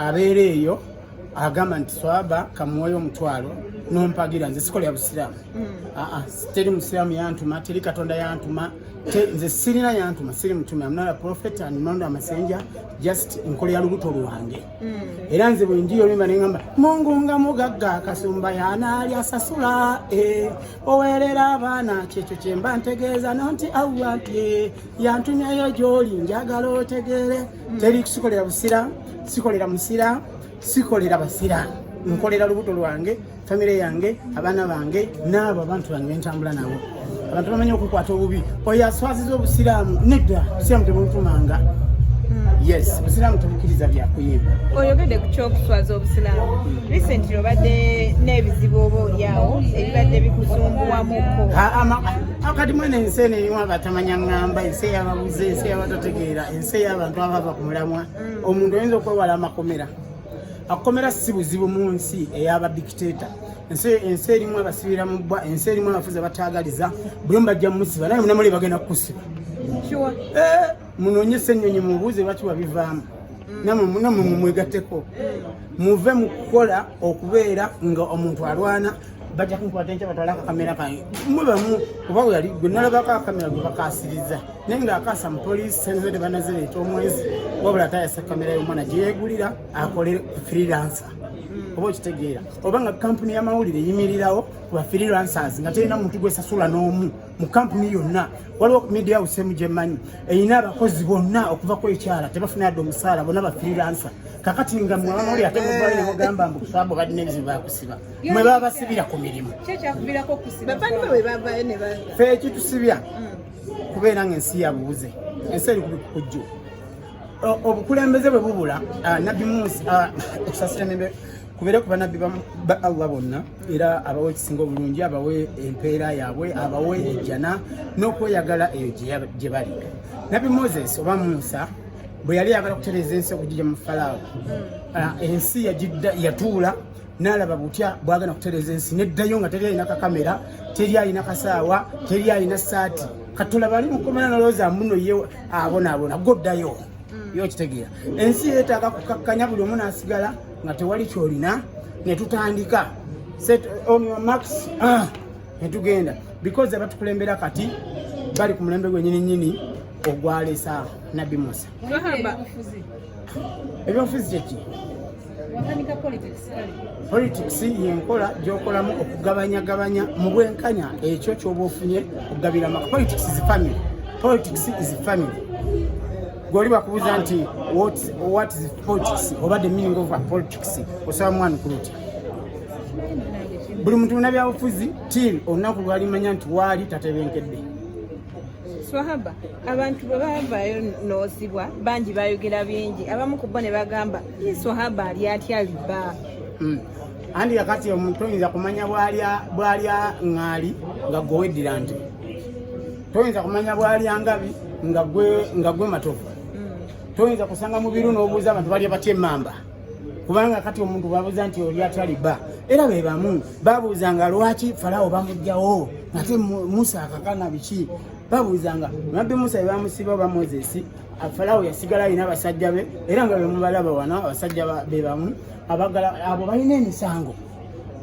abeera eyo agamba nti swaba kamuwoyo omutwalo nompagira nze sikola ya busiraamu mm. aa ah, ah, teri musiraamu yantuma teri katonda yantuma nze sirina yantuma siri mutume amnala profet and not a messenger just nkola ya lubuto lwange mm. era nze bwenjiyo limba nengamba mungu nga mugagga kasumba yanaali asasula eh, owerera abaana kyekyo kyemba ntegeeza nonti awuwatye yantumyayo gyoli njagala otegeere mm. teri kusikolera busira sikolera musira sikolera basira nkolera lubuto lwange famire yange abaana bange naabo abantu bange bentambula nabo abantu bamanyi okukwata obubi oyo aswaziza obusiraamu nedda obusiraamu tebulutumanga yes busiraamu tubukkiriza byakuyimba oyogedde ku kyokuswaza obusiraamu recently obadde n'ebizibu oba olyawo ebibadde bikusumbuwamuko kati mwene ensi eno erimu abatamanya ŋŋamba ensi eyababuze ensi eyabatategeera ensi ey'abantu abava ku mulamwa mm. omuntu oyinza okwewala amakomera akomera si buzibu mu nsi ey'abadikiteeta ensi erimu abasibira mu bbwa ensi erimu abafuzi abataagaliza buli omu bajja mumusiba naye munamuli bagenda kukusiba eh, munoonye ssennyonyi mubuuze lwaki wabivaamu mm. namwe mumwegatteko muve mu kukola okubeera nga omuntu alwana bajja kunkwata enkya batwala akakamera kange mwe bamu kuba weyali gwe nalabako akakamera gwe bakasiriza naye nga akaasa mu poliisi senze tebanazireeta omwezi wabula atayasa kamera y'omwana gye yeegulira akole freelancer hmm. oba okitegeera oba nga kampuni y'amawulire eyimirirawo ku ba freelancers nga terina muntu gwesasula n'omu mu kampuni yonna waliwo media house emu gyemanyi erina abakozi bonna okuva ku ekyala tebafuna yadde omusaala bonna ba freelancer kakati nga mwamawulire ate mubali nemugamba mbu kusaba bwe balina ebizibu bakusiba mwe babasibira ku mirimu fe ekitusibya mm. kubeera nga ensi yabubuze ensi eri kubikukujju obukulembeze bwe bubula nabbi musi okusasira nembe kubeere ku banabbi ba allah bonna era abawe ekisinga obulungi abawe empeera yaabwe abawe ejjana n'okweyagala eyo gye bali nabbi moses oba musa bwe yali yagala okutereeza ensi okugija mu falaawo mm. ensi yatuula nalaba butya bwagenda kutereza ensi neddayo nga teri alina kakamera teri alina kasaawa teri alina saati katulaba ali mukomera nolowooza muno ye abonaabona goddayo mm. yo okitegeera ensi yeetaaga kukakkanya buli omu nasigala nga tewali kyolina netutandika set on your marks ah, netugenda because abatukulembera kati bali ku mulembe gwenyini nyini ogwalesa nabbi musa ebyobufuzi kyeki politics yenkola gyokolamu okugabanyagabanya mu bwenkanya ekyo kyoba ofunye okugabira maka politics is family politics is family gwoli bakubuza nti what is politics oba the meaning of politics osaba mwana kuluti buli muntu munabyabufuzi til olunaku lwalimanya nti waali tatebenkedde swahaba abantu bwe bavayo noozibwa bangi bayogera bingi abamu ku bo ne bagamba ye swahaba ali atya liba hmm. andi kakati omuntu oyinza kumanya bwalya ŋŋaali nga gwe weddira nti toyinza kumanya bwalya ngabi nga gwe matovu hmm. toyinza kusanga mubiru n'obuuza abantu balya batya emmamba kubanga kati omuntu babuuza nti oli ataliba era be bamu babuuzanga lwaki falawo bamugjawo ate musa akakana biki babuuzanga nabbi musa bebamusiba oba moses falawo yasigala alina abasajja be era nga bemubalaba wano abasajja be bamu abagala abo balina emisango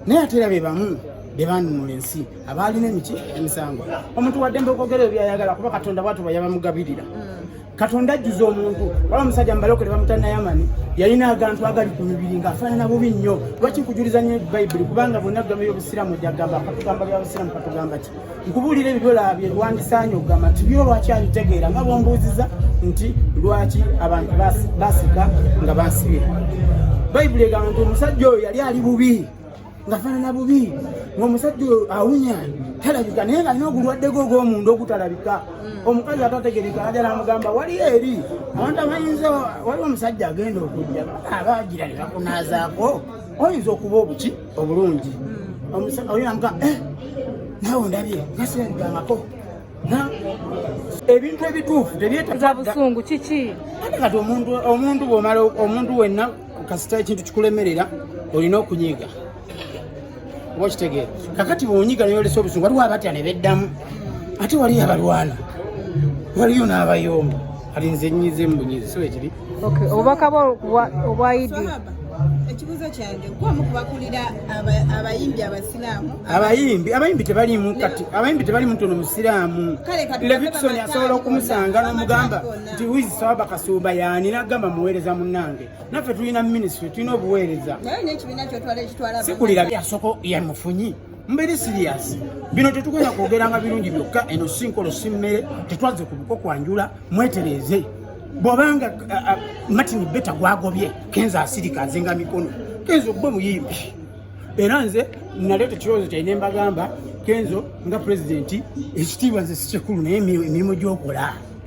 naye ate era be bamu bebanunula ensi abaalina emiki emisango omuntu waddembe okwogera ebyayagala kuba katonda bwatuba yabamugabirira mm. katonda ajjuza omuntu wala omusajja mubalokole bamuta nayamani yalina agantu agali ku mibiri nga afaanana bubi nnyo lwaki nkujuliza nnyo bayibuli kubanga bonna gamba byobusiramu jagamba katugamba byabusiramu katugamba ki nkubuulira ebyo byolabye lwandisaanye okugamba nti byo lwaki abitegeera nga bwombuuziza nti lwaki abantu basika nga basibye bayibuli egamba nti omusajja oyo yali ali bubi nga fanana bubi ngaomusajja awunya talabika naye nga alina ogulwaddeko ogwomunda ogutalabika hmm. omukazi atategereka ajala amugamba wali eri abantu abayinza waliwo omusajja agenda okujja aba agira ne bakunazaako oyinza okuba obuki obulungi hmm. oyinamuga eh, nawe ondabye ngasirabikangako ebintu ebituufu tebyetabusungu kiki kati omuntu bwomala omuntu wenna kasita ekintu kikulemerera olina okunyiga oba okitegeera kakati bwonyiga neyolesa obusungu waliwo abatya ne beddamu ate waliyo abalwana waliyo n'abayomba kati nze nyize mbunyize si wekiri obubaka obwayidi ekibuuzo kyange gwomu kubakulira abayimbi abasiraamu abayimbi abayimbi tebalimu kati abayimbi tebalimu tono musiraamu levison asobola okumusanga nomugamba nti wizi sawaba kasumba yaani nagamba muweereza munange naffe tulina minisitule tulina obuweereza sikulira yasoko yamufunyi mbeere siriyasi bino tetugenda kwogeranga birungi byokka eno si nkolo si mmere tetwaze ku buko kwanjula mwetereeze bwobanga martin beta gwagobye kenza asirika azinga mikono kenza ogube muyimbi era nze naleeta ekirowoozo kyali ne mbagamba kenzo nga pulezidenti ekitiibwa nze sikyekulu naye emirimu gyokola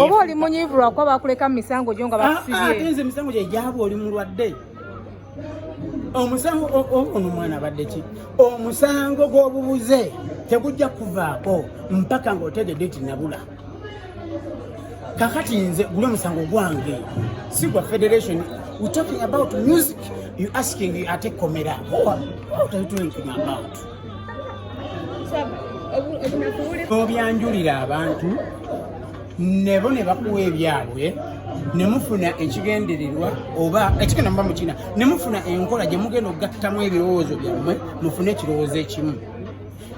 oba oli munyiivu lwakuba bakuleka mu misango gyo nga ah, ah, bakusibye nze emisango gye gyaba oli mulwadde omusango ono mwana abadde ki omusango gw'obubuze tegujja kuvaako mpaka ng'otegedde ti nabula kakati nze guli omusango gwange si gwa federation we talking about music you asking ate komera what are you talking about obyanjulira abantu nebo ne bakuwa ebyabwe ne mufuna ekigendererwa oba ekigenda muba mukina ne mufuna enkola gye mugenda okugattamu ebirowoozo byammwe mufune ekirowoozo ekimu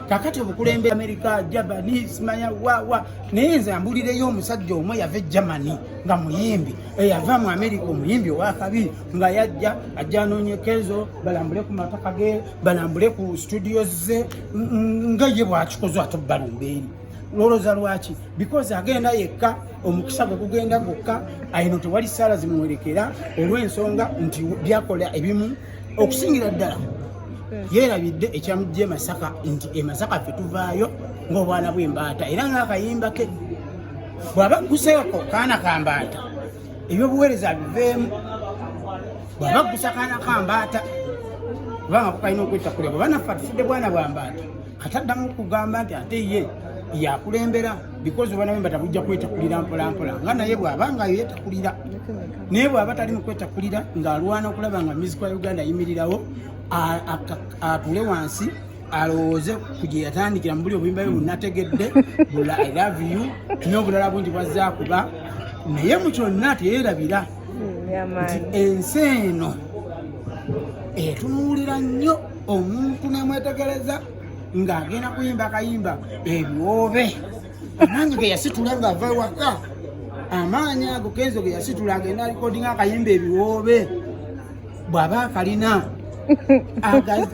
kakati obukulembe amerika jabani simanya wawa naye nze ambulireyo omusajja omu yava e germany nga muyimbi eyava mu amerika omuyimbi owakabi nga yajja ajja anoonye kezo balambule ku mataka ge balambule ku studio ze nga ye bwakikoze ate balumba eri lwoloza lwaki because agenda yekka omukisa gwe gugenda gwokka ayino tewali saala zimuwerekera olw'ensonga nti byakola ebimu okusingira ddala yeerabidde ekyamujja emasaka nti emasaka fe tuvaayo ng'obwana bw'embaata era ng'akayimba ke bw'aba guseeko kaana kambaata ebyobuweereza biveemu bwaba gusakana kambaata kubanga kukalina okwetta kulya bwaba naffe atufudde bwana bwa mbaata kati addamu okugamba nti ate ye yakulembera bikozi obwana bwe batabujja kwetakulira mpolampola nga naye bwaba nga yetakulira naye bwaba tali mu kwetakulira ng'alwana okulaba nga miziko ya uganda ayimirirawo atule wansi alowooze ku gye yatandikira mu buli obuyimba bwe bunategedde bula i love you n'obulala bungi bwazza kuba naye mu kyonna teyeerabira nti ensi eno etunuulira nnyo omuntu nemwetegereza ng'agenda kuyimba akayimba ebiwoobe nange ge yasitula ng'ava ewaka amaanyi ago kenzo ge yasitula agenda alikodinga akayimba ebiwoobe bw'aba akalina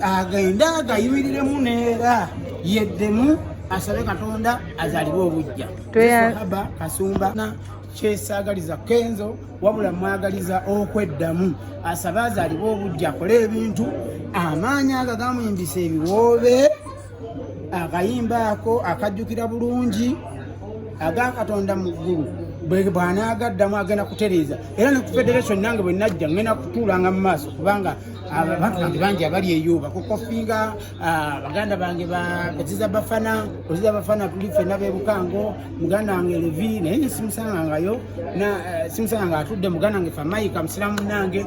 agende agayimiremu neera yeddemu asabe katonda azaliwe obujja aba kasumba kyesaagaliza kenzo wabula mwagaliza okweddamu asabe azaliwe obujja akole ebintu amaanyi agagamuyimbisa ebiwoobe akayimba ako akajjukira bulungi aga katonda mu ggulu bwanaagaddamu agenda kutereeza era ne ku federation nange bwe najja ngenda kutuulanga mu maaso kubanga abantu bange bangi abali eyo bakukofinga baganda bange baziza bafana oziza bafana tuli fena bebukango muganda wange levi naye ne simusangangayo simusanga nga atudde muganda wange famayika musiramu nange